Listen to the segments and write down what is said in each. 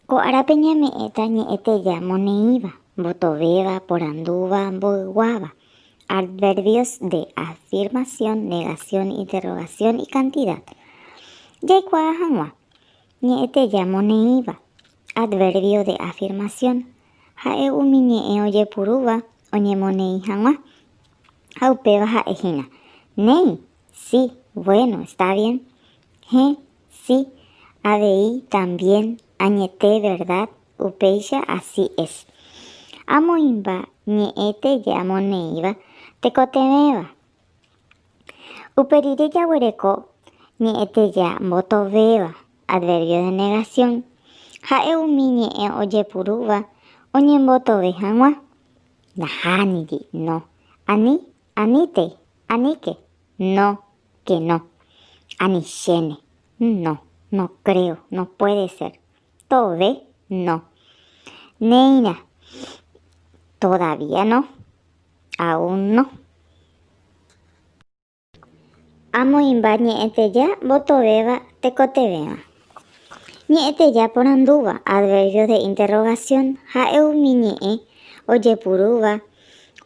Ko árape ñame'ẽta ñe'ẽteja moneĩva, mbotovéva, porandúva, mboyguáva. Adverbios de afirmación, negación, interrogación y cantidad. Jaikuaa hag̃ua. Ñe'ẽteja moneĩva. Adverbio de afirmación. Ha'e umi ñe'ẽ ojepurúva oñemoneĩ hag̃ua. Ha upéva ha'e hína, Néi, sí, bueno, está bien. Hẽ, Si, avei también añete verdad upéicha así es. Amoĩmba ñe'ẽ tee amoneĩva tekotevẽva. Upe rire jaguereko ñe'ẽ tee mbotovéva, adverbio de negación, ha'e umi ñe'ẽ ojepurúva oñembotove hag̃ua. Nahániri, no, ani Aníte, aníke, no, que no. Anichéne, no, no creo, no puede ser. Tove, no. Néirã, todavía no, aún no. Amoĩmba ñe'ẽteja mbotovéva tekotevẽva. Ñe'ẽteja porandúva, adverbios de interrogación, ha'e umi ñe'ẽ ojepurúva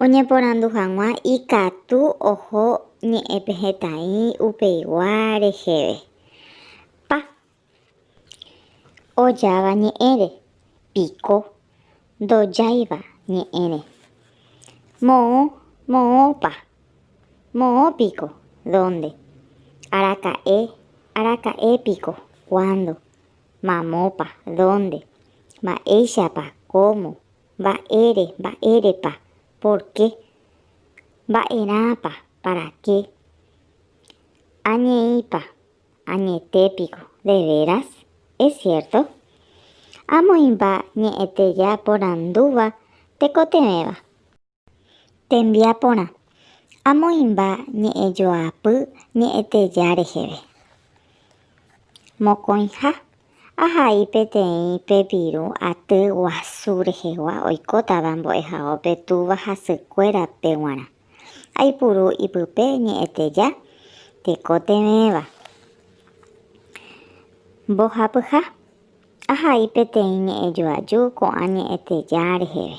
oñeporandu hag̃ua ikatu oho ñe'ẽpe hetaĩ upeigua reheve. Pa. Ojáva ñe'ẽre. Piko. ndojáiva ñe'ẽre. Moõ, moõpa, moõ piko, dónde, araka'e, araka'e piko, kuándo, mamópa, dónde, mba'éichapa, kómo, mba'ére, mba'érepa, pórke, mba'erãpa, paraké, añeĩpa. Añete piko, de veras? Es cierto? Amoĩmba ñe'ẽteja porandúva tekotevẽva. Tembiaporã, amoĩmba ñe'ẽjoapy ñe'ẽteja reheve. Mokõiha, ahai peteĩ pepirũ aty guasu rehegua oikótava mbo'ehaópe túva hasykuérape g̃uarã. Aipuru ipype ñe'ẽteja tekotevẽva. Mbohapyha, ahai peteĩ ñe'ẽjoaju ko'ã ñe'ẽteja reheve.